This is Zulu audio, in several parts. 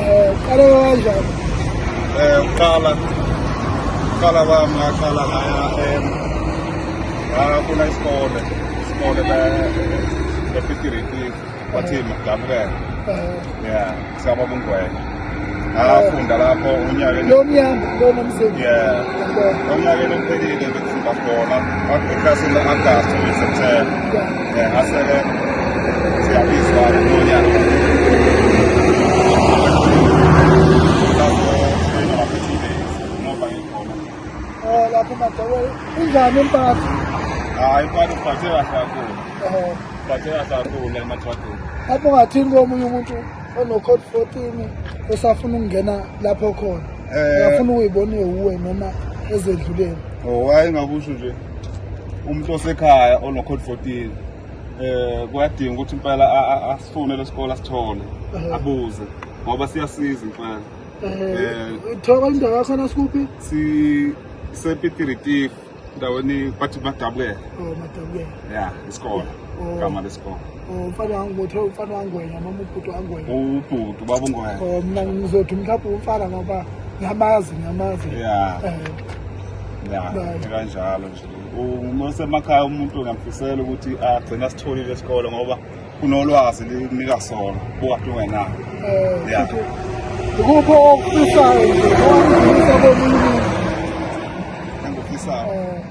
Eh, uqala kanjani? Eh, uqala uqala kwami ngaqala ngaya em ngafuna isikole isikole bepitiritif bathini ngidabukela eh. ya saba bungwenya ngafunda eh. lapho unyakeni lo mnyaka lona msebenzi ya lo nyakeni uphelile bekufunda khona eklasini le-agasti ngeseptemba lapho madawela unjani impatho hayi impatho uphathe kahle kakhulu uphathe kahle kakhulu la emathwadini lapho ungathini komunye umuntu onocode fourteen osafuna ukungena lapho khona uyafuna eh. uyibone uwe noma ezedluleni oh hayi ngakusho nje umuntu osekhaya onocode 14 eh kuyadinga ukuthi impela asifune lesikole asithole eh. abuze ngoba siyasiza impela eh, eh uthoba indawo yakho nasikuphi si sepitiritif ndaweni bathi madabukela oh madabukela yeah isikole oh. gama lesikole Oh, mfana wangu kuthiwa umfana wangwenya noma ubhuti wangwenya ubhuti ubaba ungwenya o oh, mna ngizothi mhlawumbe umfana ngoba ngiyamazi ngiyamazi ya eh. kanjalo nje uma usemakhaya umuntu ngamfisela ukuthi agcine asitholile esikole ngoba kunolwazi linika sona bokade ungenalo eh, ikuphi okufisayo nje owakufisayo komunye umuntu engufisayo eh.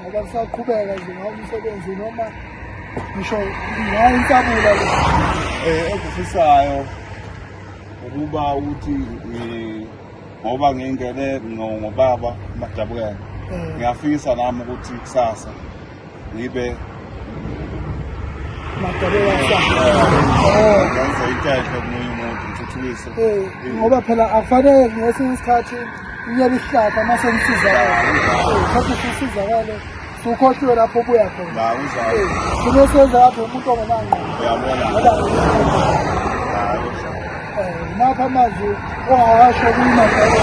ngoba kusaqhubeka nje ngawo umsebenzi noma ngisho ngawo insabula le eh ekufisayo ukuba ukuthi eh, ngoba ngingene ngobaba madabukela eh. ngiyafisa nami ukuthi kusasa ngibe madabukela kusasa eh. ngenze intethe kumuntu ngithuthukise ngoba phela akufanele ngesinye isikhathi Uyabe isihlahla uma senisizakala. Kodwa sisizakale sukhohliwe lapho obuya khona. Sube senza lapho umuntu ongenangqo. Uyabona. Napha amazwi ongawasho kuyimadala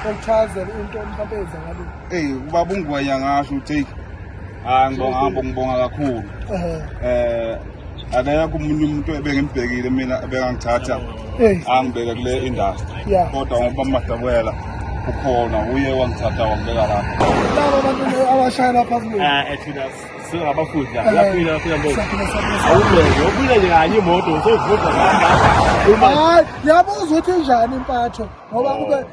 okuchazela into mhlawumbe eyenzakalile. Eyi ubaba ungwenya ngasho uTheki. hayi ngibonga hambo ngibonga kakhulu eh akekho umuntu umuntu ebengimibhekile mina ebengangithatha angibeke kule industry kodwa ngoba madakwela ukhona uye wangithatha wangibeka lapho laba bantu abashaya lapha kulo ah ethina singabafundi la laphila laphila mbo awubeke ubile nje kanye imoto uzovuza ngamba yabuzwa ukuthi njani impatho ngoba kube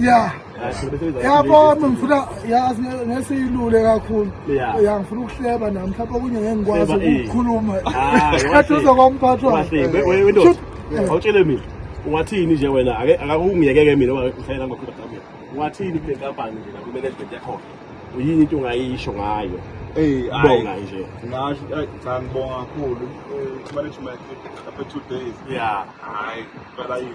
ya yabo ngifuna yazi ngesiyilule kakhulu ya ngifuna ukuhleba nami mhlawumbe okunye ngeke ngikwazi ukukhuluma khathi uzokomphathwa awutshele mina ungathini nje wena akakungiyekeke mina ngihlayela ngokuba kamina ungathini kule nkampani nje la kumanagement yakhona uyini into ongayisho ngayo Hey, bonga nje. Ngasho cha ngibonga kakhulu. Eh, management after 2 days. Yeah. Hayi, phela yini.